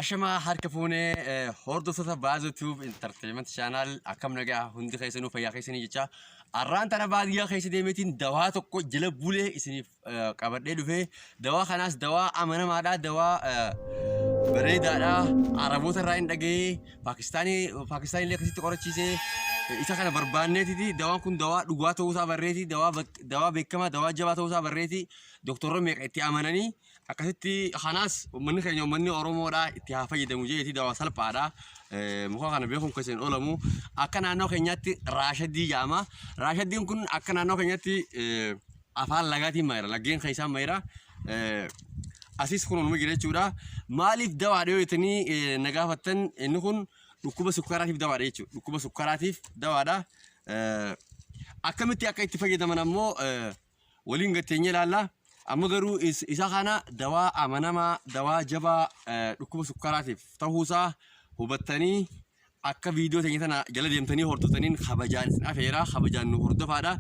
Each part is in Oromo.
Ashamaa harka fuunee hordoftoota Baazoo Tube Entertainment Channel akkam nagaa hundi keessanuu fayyaa keessanii jecha arraan tana baadiyyaa keessa deemeetiin dawaa tokko jila bulee isiniif qabadhee dhufee dawaa kanaas dawaa amanamaadha dawaa bareedaadha araboota irraa hin dhaga'ee paakistaanii paakistaanii illee akkasitti qorachiisee isa kana barbaanneetiti dawaan kun dawaa dhugaa ta'uusaa barreeti dawaa beekamaa dawaa jabaa ta'uusaa barreeti doktorri meeqa itti amananii Akkasitti kanaas uummanni keenya uummanni Oromoodhaa itti haa fayyadamu jeetii dawaa salphaadha. Muka kana beekuun keessa hin oolamu. Akka naannoo keenyaatti raashadii jedhama. Raashadiin kun akka naannoo keenyaatti afaan lagaatiin maayira. Laggeen keessaan maayira. Asis kun uumama jira jechuudha. Maaliif dawaadha yoo jettanii na gaafattan inni kun dhukkuba sukkaraatiif dawaadha jechuudha. Dhukkuba sukkaraatiif dawaadha. Akkamitti akka itti fayyadaman ammoo waliin gad teenyee ilaalla. Amma garuu is- isa kana dawaa amanamaa, dawaa jabaa eh, dhukkuba sukkaraatiif ta'uusaa hubattanii akka viidiyoo teenya tana jala deemtanii hordoftaniin kabajaan isin afeera. Kabajaan nu hordofaadha.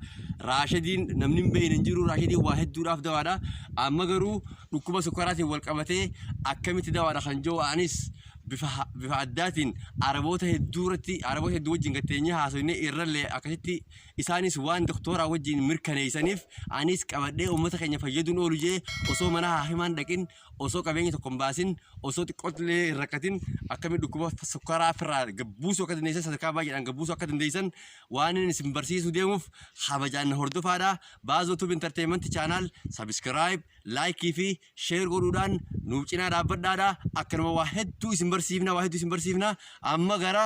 Raashadiin namni hin beekne hin jiru. Raashadiin waa hedduudhaaf dawaadha. Amma garuu dhukkuba sukkaraatiin wal qabatee akkamitti dawaadha kan jiru anis bifa ha- bifa addaatiin araboota hedduu irratti araboota hedduu wajjin gad teenyee haasofnee irrallee akkasitti isaanis waan doktooraan wajjiin mirkaneeysaniif anis qabadhee ummata keenya fayyaduun oolu je'e osoo mana haakimaa hin dhaqin osoo qabeenya tokko hin baasin osoo xiqqoottillee hin rakkatin akkamitti dhukkuba sukkaraa firraa gad buusuu akka dandeeysan sadarkaa baay'eedhaan gad buusuu akka dandeeysan waanin isin barsiisuu deemuuf kabajaan na hordofaadha Baazoo Tube Entertainment Channel Subscribe Like fi Share godhuudhaan nuuf cinaa dhaabbadhaadha akkanuma waa hedduu isin barsiifna waa hedduu isin barsiifna amma gara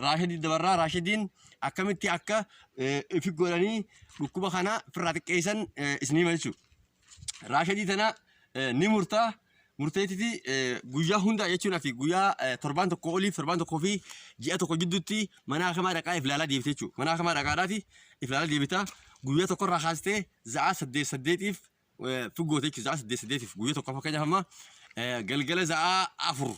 Raashadiitti dabarraa Raashadiin akkamitti akka ifi godhanii dhukkuba kana firraa xiqqeessan isin hima jechuudha. Raashadii tana ni murtaa murteetiti guyyaa hunda jechuun ati guyyaa torbaan tokko oliif torbaan tokkoo fi ji'a tokko jidduutti mana hakamaa dhaqaa if laalaa deebite jechuudha. Mana hakamaa dhaqaadhaati if laalaa deebita guyyaa tokkorraa kaastee za'aa saddeet saddeetiif figgoota jechuudha. Za'aa saddeet saddeetiif guyyaa tokko fakkeenyaaf amma galgala za'aa afur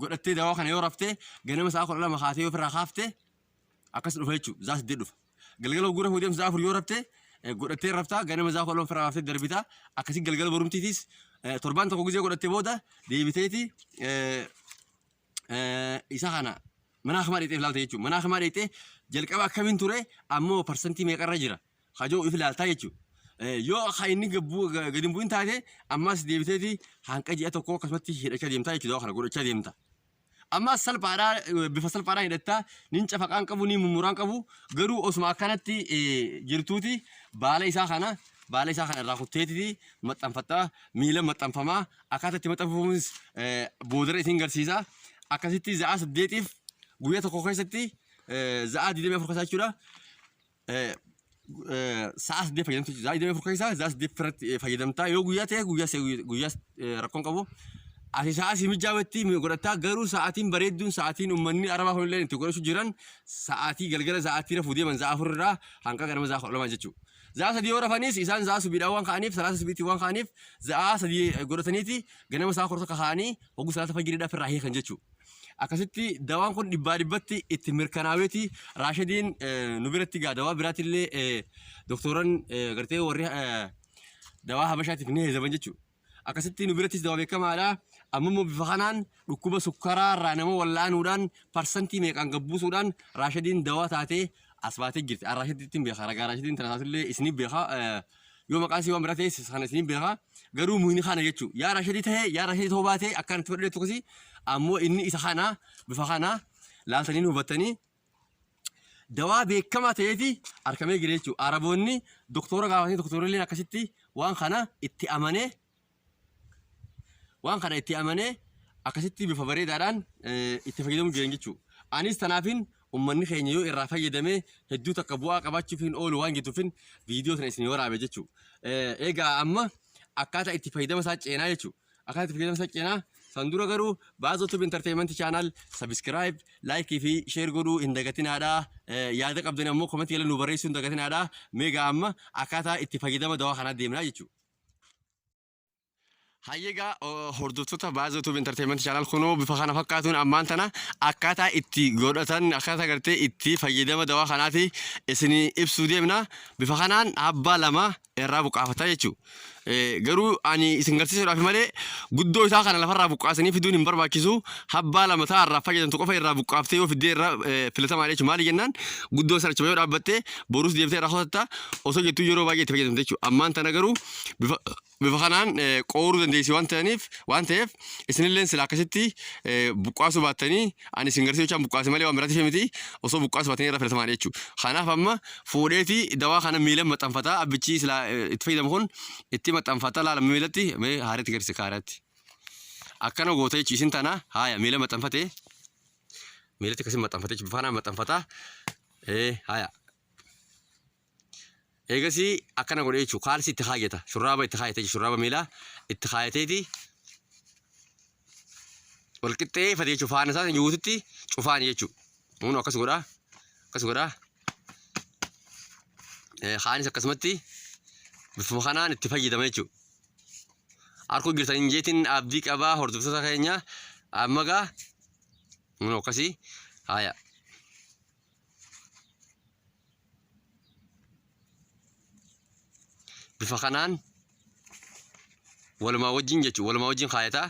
godhattee dawaa kana yoo raftee ganama sa'a kudha lama kaatee yoo ofirraa kaafte akkas dhufa jechuudha zaa saddeet dhufa galgala hogguu rafuu deemtu zaa afur yoo rafte eh, godhattee raftaa ganama zaa kudha lama ofirraa kaaftee darbitaa akkasii galgala borumtiitis eh, torbaan tokko gizee godhattee booda deebiteeti eh, eh, isa kana mana akamaa dheexeef laalta jechuudha mana akamaa dheexee jalqaba akkamiin ture ammoo parsantii meeqarra jira ka jedhu if ilaaltaa jechuudha. Yoo ka inni gadi hin bu'in taate ammas deebiteeti hanqa ji'a tokkoo akkasumatti hidhachaa deemtaa jechuudha kana godhachaa deemta. Ammas salphaadhaa bifa salphaadhaan hidhattaa nin cafaqaan qabu nin mummuraan qabu garuu osuma akkanatti jirtuuti baala isaa kana baala isaa kana irraa kutteetiti maxxanfattaa miila maxxanfamaa akkaataa itti maxxanfamuus boodarra isin garsiisa akkasitti za'a saddeetiif guyyaa tokko keessatti za'a 24 keessaa jechuudha. sa'a saddeet fayyadamtu jechuudha. Sa'a digdamii afur keessaa sa'a saddeet irratti fayyadamtaa yoo guyyaa ta'e guyyaa se- guyyaa eh, rakkoon qabu. Ati sa'a si mijaa'utti godhataa garuu sa'aatiin bareedduun sa'aatiin uummanni arabaa kunillee itti godhachu jiran sa'aatii galgala sa'aatii rafuu deeman sa'a afur irraa hanga ganama sa'a kudha lamaa jechuudha. Sa'a sadii yoo rafanis isaan sa'a subiidhaan waan ka'aniif salaata subiitti waan ka'aniif sa'a sadii godhataniiti ganama sa'a kudha tokko ka'anii hogguu salaata fajiriidhaaf irraa hiikan jechuudha. Akkasitti dawaan kun dhibbaa dhibbatti itti mirkanaaweeti Raashadiin nu biratti gaa dawaa biraatillee doktooran gartee warri dawaa habashaatiif ni heezaman jechuudha. Akkasitti nu birattis dawaa beekamaadha. Amma immoo bifa kanaan dhukkuba sukkaraa irraa nama wal'aanuudhaan parsantii meeqaan gabbuusuudhaan Raashadiin dawaa taatee as baatee jirti. Raashadiin beekaa ragaa Raashadiin tana taatillee isiniif beekaa. yoo maqaan sii waan biraa ta'e sana isiniin beeka garuu muhini kana jechuu yaa rashadii ta'e yaa rashadii ta'uu baate akkaan itti fudhadheetu kasi ammoo inni isa kana bifa kana laaltaniin hubattanii dawaa beekamaa ta'eeti arkamee jira jechuudha. Araboonni doktora gaafatanii doktorri illee akkasitti waan kana itti amanee Waan kana itti amanee akkasitti bifa bareedaadhaan itti fayyadamuu jiran jechuudha. Anis tanaafin ummanni keenya yoo irraa fayyadamee hedduu takka bu'aa qabaachuuf hin oolu waan jedhuufin viidiyoo sana isin waraabe jechuudha. Egaa amma akkaataa itti fayyadama isaa ceenaa jechuudha. Akkaataa itti fayyadama isaa ceenaa san dura garuu baazoo tube entertainment channel subscribe like fi share godhuu hin dagatinaadha. Yaada qabdan ammoo komentii jala nu barreessuu hin dagatinaadha. Meegaa amma akkaataa itti fayyadama dawaa kanaa deemnaa jechuudha. Hayyeegaa hordoftoota baazoo tuub intarteementii chaanaal kunoo bifa kana fakkaatuun ammaan tana akkaataa itti godhatan akkaataa gartee itti fayyadama dawaa kanaati isin ibsuu deemna bifa kanaan abbaa lama irraa buqqaafata jechuudha. Garuu ani isin garsiisuudhaaf malee guddoo isaa kana lafarraa buqqaasanii fiduun hin barbaachisu abbaa lama ta'a irraa fayyadamtu qofa irraa buqqaaftee yoo fiddee irraa filatamaadha jechuudha maali jennaan guddoo sana achuma yoo dhaabbattee borus deebitee irraa kutatta osoo jettuu yeroo baay'ee itti fayyadamte jechuudha. Ammaan tana garuu bifa bifa kanaan eh, qooruu dandeessi waan ta'aniif waan ta'eef isinillee sila akkasitti eh, buqqaasuu baattanii ani isin garsiisuu jechaan buqqaase malee waan biraatiif miti osoo buqqaasuu baattanii irra filatamaa jechuudha. Kanaaf amma fuudheeti dawaa kana miila maxxanfataa abbichi sila eh, itti fayyadamu kun itti maxxanfataa laala miilatti mee haareetti garsiisa kaareetti. Akkana goota jechuun isin tana haaya miila maxxanfatee Miilatti akkasiin maxxanfatee jechuudha. Bifaanaan maxxanfataa. Ee haya. Eegasii akkana godhee jechuudha. Kaalsii itti kaayata. Shurraaba itti kaayatee jechuudha. Shurraaba miilaa itti kaayateeti. Wal qixxeeffate jechuudha. Faana isaa guututti cufaan jechuudha. Kun akkas godhaa. Akkas godhaa. Kaanis akkasumatti bifuma kanaan itti fayyadama jechuudha. Arkuu jirtan hin jeetiin abdii qabaa hordoftoota keenya amma gaa kun akkasii haaya. Bifa kanaan walumaa wajjin jechuun walumaa wajjin kaayataa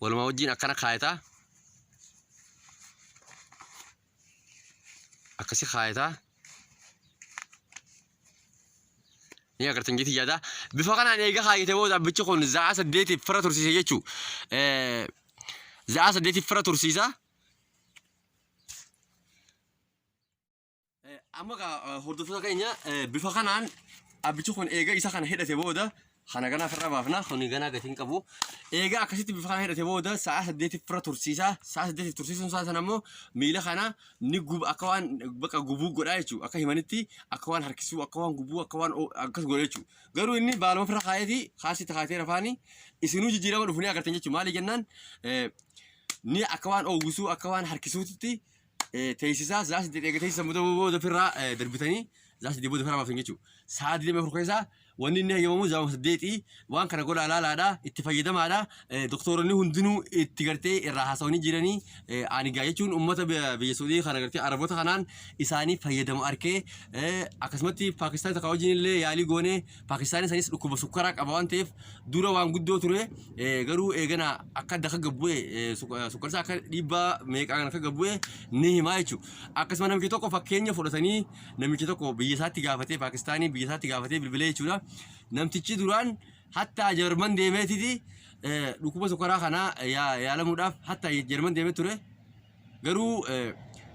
walumaa wajjin akkana kaayataa akkasi kaayata ni agartan jetii yaada bifa kanaan eega kaayate booda abbichi kun za'a saddeetiif fira tursiisa jechuu za'a saddeetiif fira tursiisa amma gaa hordoftoota keenya bifa kanaan abbichi kun eega isa kana hidhate booda Kana ganaa firra baafna. Kuni ganaa gatiin qabu. Eegaa akkasitti bifa kana hidhate booda sa'a saddeetiif firra tursiisa. Sa'a saddeetiif tursiisuun isaa sana immoo miila kana ni gub akka waan baqa gubuu godhaa jechuudha. Akka himanitti akka waan harkisuu akka waan gubuu akka waan o- akkas godha jechuudha. Garuu inni baaluma firra kaayeeti kaasitti kaatee rafaani isinuu jijjiirama dhufu ni agartan jechuudha. Maali jennaan eh, ni akka waan oowwisuu akka waan harkisuutitti teessisaa zaa saddeet eega teessisan booda booda ofirraa eh, darbitanii zaa saddeet booda ofirraa baaftan jechuudha. Sa'a digdamii afur keessaa wanni inni hayyamamu zaama saddeetii waan kana godhaa laalaadha itti fayyadamaadha eh, doktooronni hundinuu itti gartee irraa haasawanii jiranii eh, ani gaa jechuun uummata biyya biyya Saudii kana gartee Araboota kanaan isaanii fayyadamu arkee eh, akkasumatti Paakistaan takka wajjin illee yaalii goonee Paakistaanis anis dhukkuba sukkaraa qaba waan ta'eef dura waan guddoo ture eh, garuu eegana akka adda akka gabbu'e eh, suk- eh, sukkarsaa akka dhiibbaa meeqaan akka gabbu'e ni himaa jechuudha. Akkasuma namichi tokko fakkeenya fudhatanii namichi tokko biyya isaatti gaafatee Paakistaanii biyya isaatti gaafatee bilbilee jechuudha. Namtichi duraan hatta Jarman deemeetiti eh, dhukkuba sukkaraa kanaa yaa- yaalamuudhaaf hatta Jarman deemee ture. Garuu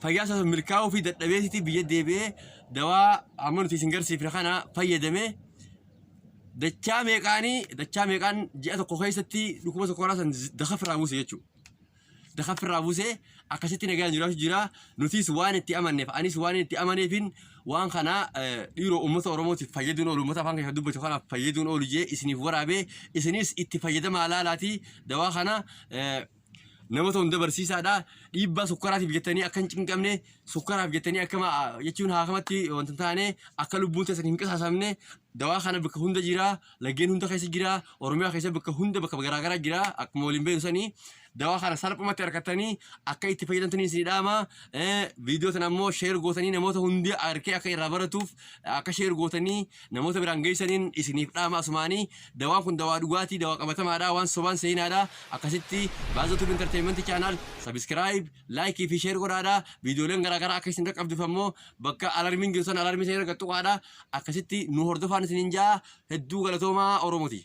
fayyaa isaa milkaa'uu fi dadhabeesitii biyya deebi'ee dawaa amma nuti isin garsiifne kana fayyadame dachaa meeqaanii dachaa meeqaan ji'a tokko keessatti dhukkuba tokkoraa san dakafirraa buuse jechuudha. Dakafirraa buuse akkasitti nagaan jiraachuu jira. Nutis waan itti amanneef anis waan itti amaneefin waan kana dhiiroo uummata Oromootiif fayyaduun oolu uummata afaan keessa dubbatu kanaaf fayyaduun oolu jee isiniif waraabee isinis itti fayyadamaa laalaatii dawaa kana Namoota hunda barsiisaadha. Dhiibbaa sukkaraatiif jettanii akka hin cinqamne, sukkaraaf jettanii akka ma- jechuun haakamatti wanta hin taane, akka lubbuun teessan hin qisaasamne, dawaa kana bakka hunda jira, laggeen hunda keessa jira, Oromiyaa keessa bakka hunda bakka garaagaraa jira, akkuma waliin beeknu sanii. Dawaa kana salphumatti argattanii akka itti fayyadamtanii isin dhaama. Eh, Viidiyoo tana immoo sheer gootanii namoota hundi arkee akka irraa baratuuf Akka sheer gootanii namoota biraan geessaniin isiniif dhaama asumaanii dawaan kun dawaa dhugaatii dawaa qabatamaadha waan sobaan seenaadha akkasitti baazoo tubi intarteeyimentii chaanaal sabiskiraayib laayikii fi sheer godhaadha viidiyooleen garaagaraa akka isin qaqqabduuf ammoo bakka alarmiin jiru sana alarmii sana irra qaxxuqaadha akkasitti nu hordofaan isiniin ja'a hedduu galatoomaa oromotii.